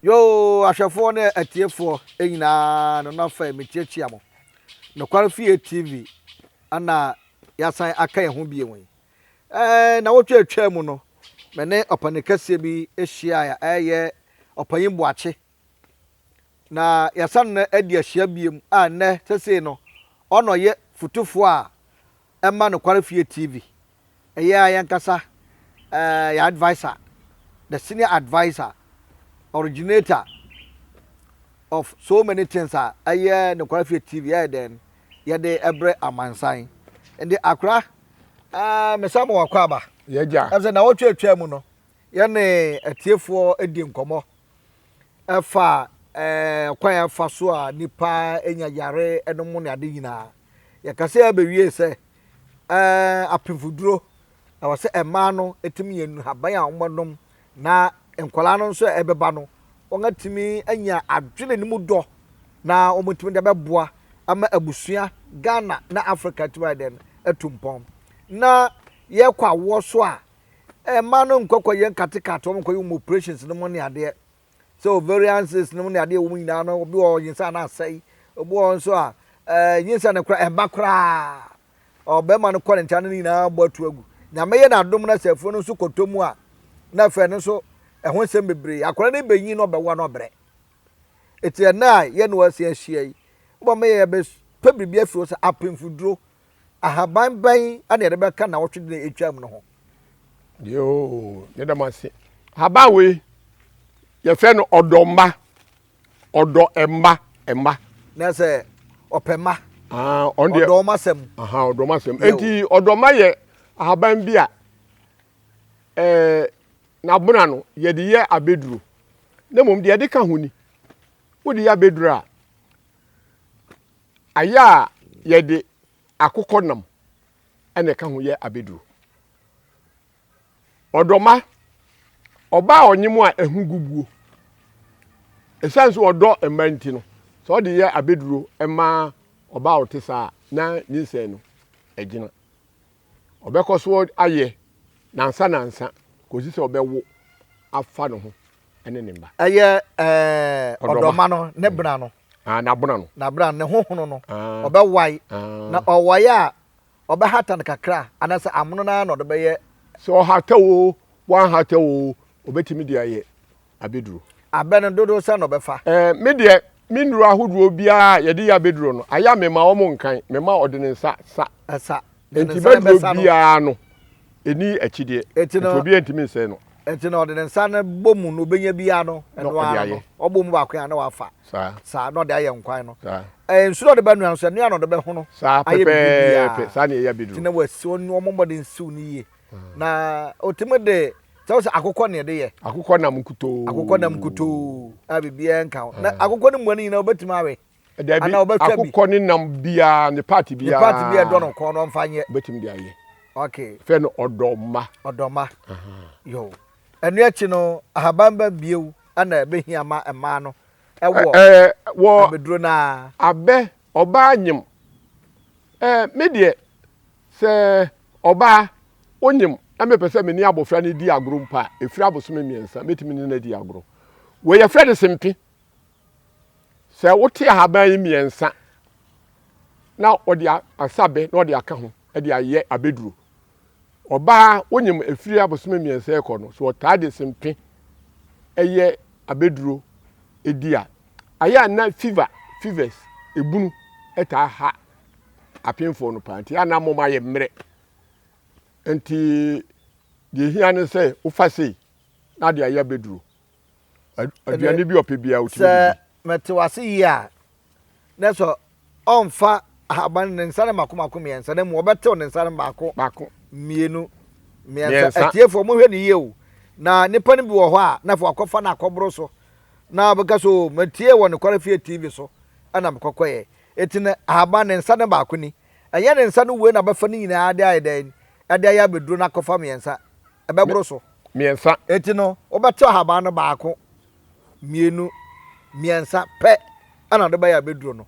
Yoo, ahwɛfoɔ ne atiefoɔ nyinaa no na fɛ mekyiakyia mo. Nokware Fie TV ana yɛasan aka yɛn ho bio yi. Ɛɛ, na wotwa atwa mu no, me ne ɔpani kɛseɛ bi hyiaeɛ a ɛyɛ ɔpanyin Boakye. Na yɛasan no adi ahyia biom a nnɛ sesei no ɔna ɔyɛ futufoɔ a ɛma Nokware Fie TV. Ɛyɛ a yɛnkasa eh, yɛ advisor, the senior advisor, originator of so many things a ɛyɛ Nokware Fie TV ɛyɛ dɛn yɛde ɛbrɛ amansan. Ɛnde akora eh, mesa mo wakɔ aba. Yɛgya. Ɛsɛ na wɔtwa atwa mu no. yɛne atiefoɔ di nkɔmmɔ ɛfa ɛkwan a ɛfa so a nipa nya yare no mu ne ade nyinaa. Yɛkasa yi abɛwie sɛ ɛɛ apemfoduro ɛwɔ sɛ mmaa no ɛtumi yɛ nnuhaban a wɔnom na nkwadaa no nso a ɛbɛba no wɔatumi anya adwene no mu dɔ na wɔtumi de bɛboa ama abusua Ghana na Africa atumi ayɛ dɛn atu mpɔn na yɛkɔ awoɔ so a Mmaa no nkɔ kɔyɛ nkate cut wɔn nkɔyɛ wɔn operations no mu ne adeɛ sɛ ovarian cyst no mu ne adeɛ ɛwɔ mu nyinaa no obi wɔ nyinsɛn a na asɛe obi wɔ nso a ɛɛ nyinsɛn no koraa ɛmma koraa ɔbɛrima no kɔ ne nkyɛn ne nyinaa bɔ atu agu nyame yɛ n'adom na sɛ afuo no nso kɔtɔ mu a na afei no nso ɛho nsɛm bebree akwadaa no bɛnyin na ɔbɛwa na ɔbrɛ eti ɛnna a yɛ ne wɔasia ahyia yi wɔn yɛ yɛbɛpɛ biribi afiri hɔ sɛ apemfuduro Ahaban bɛn na yɛde bɛka nnawɔtwe de atwam no ho? Yoo, yɛda mo ase. Ahaban wei yɛfrɛ no ɔdɔ mma, ɔdɔ mma mma. Na sɛ ɔpɛ mma. Ah, ɔn deɛ. Ɔdɔ ɔma sɛm. Aha, ɔdɔ ɔma sɛm. Enti ɔdɔ mma yɛ ahaban bi a ɛɛ n'abona no yɛde yɛ abeduro. Na mmom deɛ yɛde ka ho ni. Wode yɛ abeduro a Ayɛ a yɛde akokɔnam na ɛka ho yɛ abɛduro. Ɔdɔma, ɔbaa a ɔnye mu a ɛho gu buo. Ɛsiane sɛ ɔdɔ mma nti no, sɛ ɔde yɛ abɛduro ma ɔbaa a ɔte saa na nyinsɛn no agyina. Ɔbɛkɔ so ayɛ nansa nansa kɔsi sɛ ɔbɛwo afa ne ho ne ne mma. Ɛyɛ ɔdɔma no ne bena no. Ah, n'abena no. N'abena no, ne hohono no, Ah, ɔbɛwae. Na ah. ɔwae a, ɔbɛhata no kakra, anaasɛ amono no ara na ɔde bɛyɛ. Sɛ ɔhata oo, wanhata oo, ɔbɛtumi de ayɛ abɛduro. Abɛ no dodow sɛn na ɔbɛfa? Eh, me deɛ, me nnuro ahodoɔ biara a yɛde yɛ abɛduro no, ayɛ a mema wɔn nkan, mema ɔde ne nsa sa. Sa. Enti ne nsa bɛduro bɛsa no. biara no, ɛnni akyideɛ, Enti enti no- obiara ntumi nsɛe no. Enti na ɔde ne nsa no bɔ mu no, ɔbɛnya biara no, ɛno ɔde ara no, ayɛ. ɔbɔ mu baako a na wafa. Saa, Saa na ɔde ayɛ nkwan no. saa, Ɛɛ, nsu na ɔde bɛnoa no nso, ɛno a na ɔde bɛhono saa ayɛ biribiara. pɛpɛɛpɛ. Saa na ɛyɛ Nti abɛduro. na wasi wɔn wɔn mmɔden siw no yie. Na ɔtumi de, sɛ wo sɛ akokɔ na ɛde yɛ, Akokɔ nam nkutoo. akokɔ nam nkutoo a biribiara nka ho. Na akokɔ no mmoa no nyinaa wobɛtumi awe. Dabi, Ana ɔbɛtwa bi. akokɔ ne nam biara ne part Ne biara. part bi a ɛdɔ no kɔn no ɔmfa nyɛ. Obetumi de ayɛ. Okay. Fɛ no ɔdɔ mma. Ɔdɔ mma. Yo. Ɛno akyi no ahaban bɛ bio ɛna ɛbɛhia ma mmaa no ɛwɔ Ɛɛ wɔ abɛduro no ara. abɛ ɔbaa nyem. Ɛɛ me deɛ sɛ ɔbaa onyem na mepɛ sɛ me ne abɔfra no di agoro mpo a, ɛfiri abosome mmiɛnsa mɛtumi ne no adi agorɔ. Wei yɛfrɛ no sempe. Sɛ wote ahaban yi mmiɛnsa na ɔde asabe na ɔde aka ho de ayɛ abɛduro. Ɔbaa wonyim ɛfiri abosome mmiɛnsa ɛkɔ no, so ɔtaa de sempe ɛyɛ abɛduro ɛdi a, ayɛ a na fever, fevers, ebunu ɛtaa ha apemfoɔ no paa nti a na mom ayɛ mmerɛ. Nti deɛ hia ne sɛ wofa sei na de ayɛ abɛduro. aduane bi ɔpɛ biara wotumi didi. Sɛ mete wase yie a, na sɛ ɔmfa ahaban ne nsa no mako mako mmiɛnsa na mu ɔbɛtew ne nsa no baako baako mmienu mmiɛnsa. Atiefoɔ mohwɛ ne yie o. Na nipa no bi wɔ hɔ a na afei wakɔfa no akɔboro so na ɔbɛka sɛ o matie wɔ nokware fie TV so ɛna mekɔkɔyɛ. Eti no ahaban ne nsa no baako ni. Ɛnyɛ ne nsa no wei na bɛfa ne nyinaa de ayɛ dɛn ɛde ayɛ abɛduro no akɔfa mmiɛnsa, ɛbɛboro so. Mmiɛnsa. Enti no, wobɛte ɔhaban no baako, mmienu, mmiɛnsa pɛ ɛna ɔde bɛyɛ abɛduro no.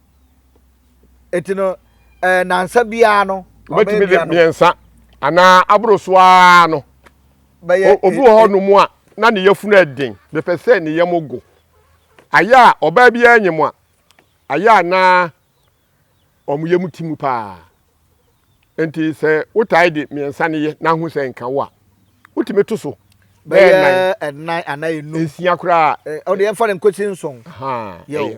Enti no, ɛɛ eh, nansa biara no, wobɛtumi de mmiɛnsa anaa aboro so ara no. Bɛyɛ obi wɔ hɔ nom a na ne yafunu ɛden, bɛpɛ sɛ ne yam go. Ayɛ a ɔbaa biara nyɛ mu a, ayɛ a na wɔn yam te mu paa. Enti sɛ wotae de mmiɛnsa no yɛ na ho sɛ nka wo a, wotumi to so bɛyɛ nnan anaa enum nsia koraa. ɔde eh, yɛmfa no nkosi nson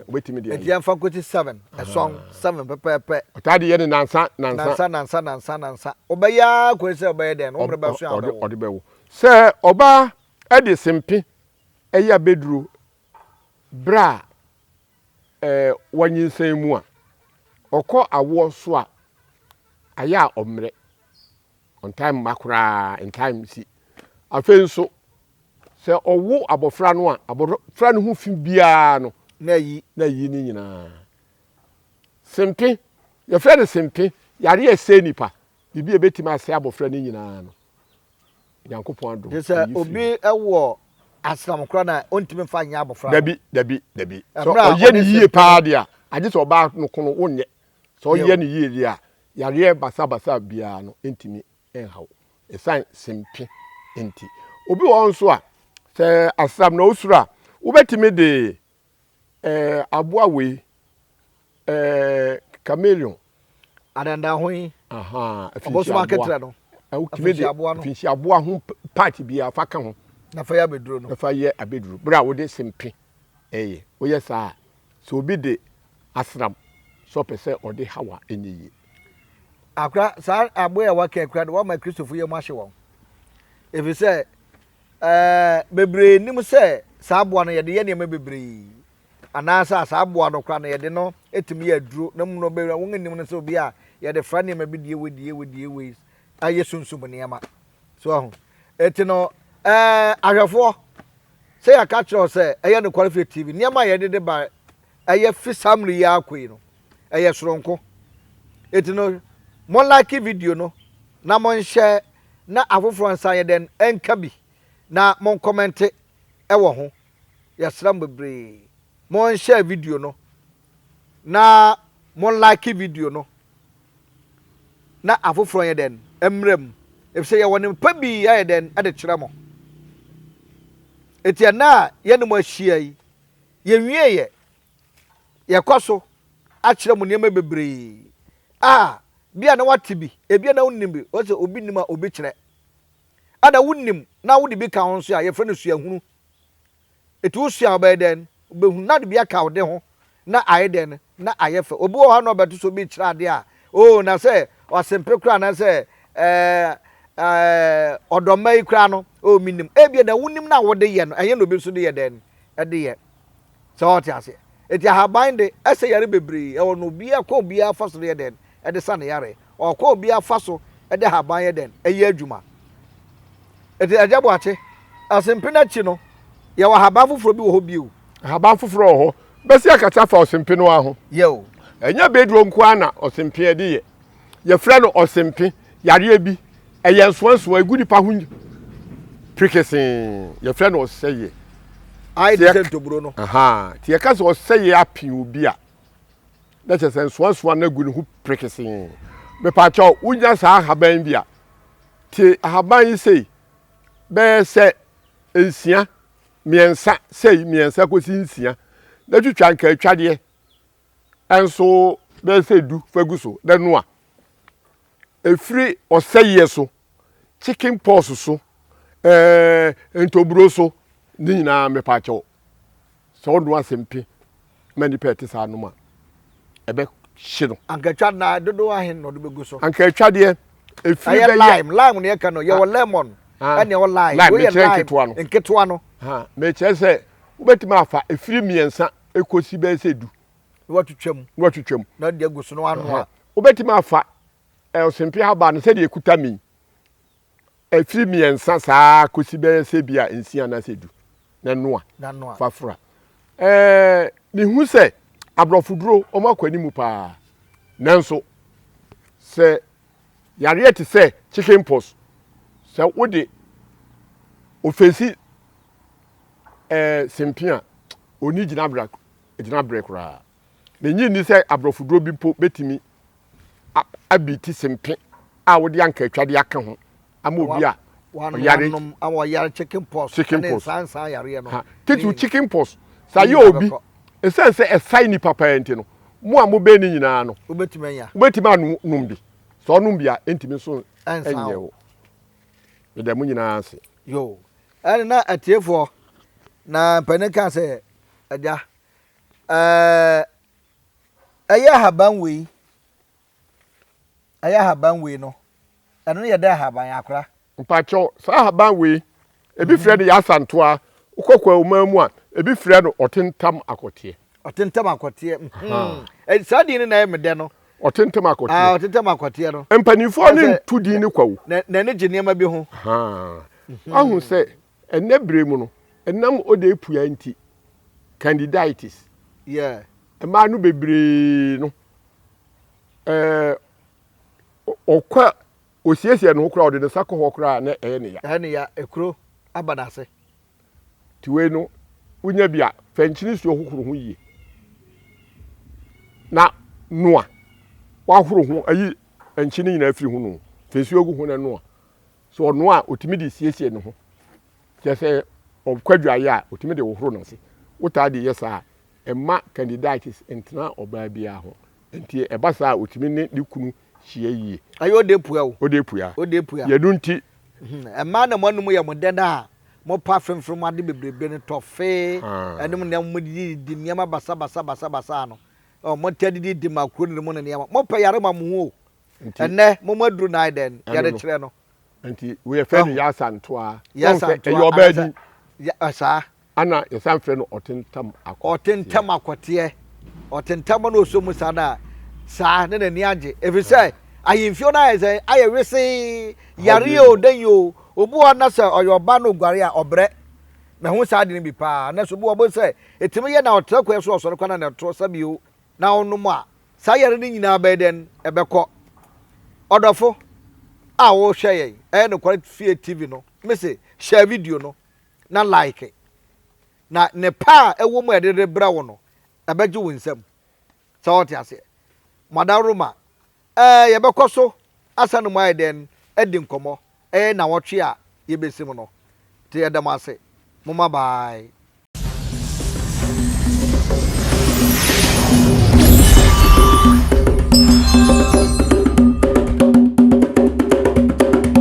wobɛtumi deɛ nti yɛmfa nkosi seven ɛsɔn seven pɛpɛɛpɛ ɔtaa de yɛ ne nansa nansa nansa nansa nansa wobɛyɛ ara kɔɛ sɛ wobɛyɛ dɛn no wommerɛ bɛso a ɔde bɛwo sɛ ɔbaa de sempe ɛyɛ abɛduro berɛ a wanyinsɛn mu a, ɔkɔ awoɔ so a, ayɛ a ɔmmerɛ. Ɔntaa mma koraa, ntaa nsi. Afei nso, sɛ ɔwo abɔfra no a, abɔfra no ho fi biara no, na ayi na ayi ne nyinaa. Sempe, yɛfrɛ no sempe, yare a ɛsɛe nipa, Biribi a ebetumi asɛe abofra no nyinaa no, Onyankopɔn adom Te sɛ ayi obi firi mu. wɔ asram koraa no a, ontumi mfa nyɛ abofra no. Dabi, dabi, dabi. Sɛ Ɛberɛ a ɔyɛ ɔde no yie sɛ- paa deɛ a, agye sɛ ɔbaa no ko no wonyɛ. Sɛ Bio. ɔyɛ no yie deɛ a, yareɛ basabasa biara no ntumi nha wo. Ɛsiane sempe nti. Obi wɔ hɔ nso a, sɛ asram na osuro a, wobɛtumi de Ɛɛ aboa wei ɛɛ chameleon. Adandan ho yi. Ɔbɔsoma aketerɛ no. Wotumi de afinsi aboa ho part biara fa ka ho. Na fa yɛ abɛduro no. Na fa yɛ abɛduro berɛ a wode sempe ɛyɛ. Woyɛ saa a sɛ obi de asram sɛ ɔpɛ sɛ ɔde haw a ɛnyɛ yie. Akora saa aboa a waka yi koraa deɛ wama Kristofo yam ahye wɔn. Ɛfiri sɛ. Ɛɛ, bebree nnim sɛ saa aboa no, yɛde yɛ nneɛma bebree. Anaasɛ a saa aboa no koraa no, yɛde no tumi yɛ aduro. Na mmom no, bebree a wɔnnim no sɛ obi a yɛde fra nneɛma bi die wei, die wei, die wei, ayɛ sunsum nneɛma. So ahu? Eti no, ɛɛ, ahwɛfoɔ, sɛ yɛka kyerɛ wo sɛ ɛyɛ nokware firi TV, nneɛma a yɛde de ba ɛyɛ fi saa mmerɛ yi ara kɔ yi no ɛyɛ soronko eti no mo like video no na mo nhyɛ na afoforɔ nsa yɛ dɛn nka bi na mo nkɔmɛnte ɛwɔ ho yɛsrɛ mo bebree mo nhyɛ video no na mo like video no na afoforɔ yɛ dɛn mmerɛ mu efisɛ yɛwɔ ne mpa bi yɛ dɛn ɛde kyerɛ mo eti ɛna yɛne mo ahyia yi Yɛnwiee ɛ. Yɛkɔ so akyerɛ mo nneɛma bebree a bia na woate bi, ebia na wonim bi, wɔse obi nim a obi kyerɛ. Ɛna wonim na wode bi ka ho nso a, yɛfrɛ no suahunu. Eti wosua a wobɛyɛ dɛn? Wobɛhunu na wode bi aka wode ho na ayɛ dɛn? na ayɛ fɛ. Obi wɔ hɔ a na ɔbɛto sɛ obi rekyerɛ ade a, oo, na sɛ ɔsempe koraa anaasɛ ɛɛ ɛɛ ɔdɔmma yi koraa no, oo, menim. Ebia na wonim na wode yɛ no, ɛnyɛ na obi nso de yɛ dɛn de yɛ. Sɛ ɔte aseɛ. Eti ahaban de, ɛsɛ yare bebree. Ɛwɔ no obiara kɔ obiara fa so de yɛ dɛn de sa ne yare. Ɔkɔ obia faso de haban yɛ dɛn? Ɛyɛ adwuma. Enti Agya Boakye, Ɔsempena akyi no, yɛwɔ haban foforɔ bi wɔ hɔ bio. Haban foforɔ wɔ hɔ. Bɛsi akasa afa ɔsempe no ara ho. Yɛ o. Ɛnyɛ beeduro nko ara na ɔsempe yɛde yɛ. Yɛfrɛ no ɔsempe, yareɛ bi. Ɛyɛ nsoansoa, ɛgu nipa ho pirikesee. Yɛfrɛ no ɔsɛeɛ. Ayɛ te sɛ ntoburo no. Ahaa. Nti yɛka sɛ ɔsɛeɛ ape obi a, Na kyerɛ sɛ nsoansoa no agu ne ho perekesee. Mepaakyɛw, wunya saa nhaban yi bi a, tie ahaban yi sei, bɛyɛ sɛ nsia, mmiɛnsa, sei, mmiɛnsa kosi nsia, na twitwa nkaatwadeɛ nso bɛyɛ sɛ du fa gu so, na noa. Ɛfiri ɔsɛeɛ so. chicken pox so, ɛɛ ntoburo so, ne nyinaa mepaakyɛw. Sɛ ɔno asɛmpi ma nipa a ɛte saa nom a, ɛbɛhye no. Ankatwa na dodoɔ ahen na ɔde bɛgu so? Ankatwa deɛ efiri bɛyɛ. Ɛyɛ lime lime na yɛka no yɛwɔ lemon ɛne ɛwɔ lime. Lime mekyerɛ nketewa no. Nketewa no. Mekyerɛ sɛ wobɛtumi afa efiri mmiɛnsa ekosi bɛyɛ sɛ du. Na watwitwa mu. Na watwitwa mu. Na de agu so na wanoa. Wobɛtumi afa Ɔsɛmfiri ahaban no sɛdeɛ ɛkuta me yi, ɛfiri mmiɛnsa saa ara kɔsi bɛyɛ sɛ bi a nsia anaasɛ du na noa fa fura. Mehu sɛ aborɔfo duro wɔn akɔ anim paa nanso sɛ yareɛ te sɛ chicken pox sɛ wode ofesi eh, sempe a ɔni gyinaberɛ koraa. Minnye nni sɛ aborɔfoduro bi mpo betumi abeati sempe a wode ankaatwade aka ho ama obi a ɔyare chicken pox. Titiriw chicken pox, sɛ ayɛ obi, esiane sɛ ɛsae nnipa paa nti no, mo a mobɛn no nyinaa no, wobetumi anom bi. Sɛ ɔnom bi a, entumi nso nyɛ wo. Meda mo nyinaa ase. Yo, ɛne na atiefoɔ na mpanin kaa sɛ, Agya. Ɛɛ, ɛyɛ ahaban wei. Ɛyɛ ahaban wei no. Ɛno no yɛ dɛ ahaban akora. Mpakyɛw, saa ahaban wei, ebi frɛ no yasantoa, wokɔ Kwawu man mu a, ebi frɛ no ɔtentam akɔteɛ. Ɔtentam akɔteɛ, mm-hmm. Saa din no na ɛyɛ me dɛ no. Ɔtentam akɔteɛ. Ah, ɔtentam akɔteɛ no. Mpanimfoɔ no nto din no kwawu. N'ani gye nneɛma bi ho. Ahu sɛ Ɛnnɛ bere mu no, ɛnam odeyɛpua nti, candidiatis, yɛ mmaa no bebree no, ɛɛ, ɔkɔ a osiesie ne ho koraa, ɔde ne nsa kɔ hɔ koraa a, na ɛyɛ ne ya. Ɛyɛ ne ya, ekuro aba n'ase. Nti wei no, wonya bi a, fa nkyen nsuo hohoro ho yie na noa. Woahoro ho, ayi nkyen no nyinaa afiri ho no o, fa nsuo gu ho na noa. So ɔno a otumi de siesie ne ho? Kyerɛ sɛ ɔkɔ adwaeɛ a, otumi de hohoro n'ase. Wotaa de yɛ saa a, ɛmma candidiatis ntena ɔbaa biara ho. Enti ɛba saa a, otumi ne ne kunu hyia yie. Ɛyɛ ode pua o. Ode pua. Ode pua. Yɛ ɛno nti. Mmaa na mo anum yɛ mo dɛ no a, mopa fremfrem mu ade bebrebe no, tɔfee, ɛnom nneɛma, modidi didi nneɛma basabasa basabasa no. Ɔɔ, motaa didi di makroni nom ne nneɛma. Mopɛ yare ma mo ho o. Ɛnnɛ momo aduru nan dɛn yɛde kyerɛ no. Nti yɛfrɛ no Yasa Ntoa. Yasa Ntoa ɛyɛ ɔbaa din. Saa. Ana yɛsan frɛ no Ɔtentam Akɔteɛ. Ɔtentam Akɔteɛ. Ɔtentam na ɔsɔ mu saa na saa ne n'ani agye. Ɛfiri sɛ ahemfio no ayɛ sɛ ayɛ wesee yareɛ o dɛn o obi hɔ na sɛ ɔyɛ ɔbaa na ɔguare a ɔbrɛ. Mahu saa ade no bi paa. Nanso obi hɔ bɛhu sɛ ɛtumi yɛ na ɔtra kwan so ɔsɔre kwan na na ɛto sa bio. na wonom a, saa yare no nyinaa bɛyɛ dɛn? Ɛbɛkɔ. Ɔdɔfo a wohwɛ yɛn Ɛyɛ Nokware Fie TV no, mise hyɛ video no na like, na nnepa a ɛwɔ mu a yɛde rebrɛ wo no, ɛbɛgye wo nsam. Sɛ wote aseɛ? Madaworoma Ɛɛ, yɛbɛkɔ so asa ne mu ayɛ dɛn adi nkɔmmɔ? Ɛyɛ nnawɔtwe a yebesi mu no. Nti yɛda mo ase. Momma bye.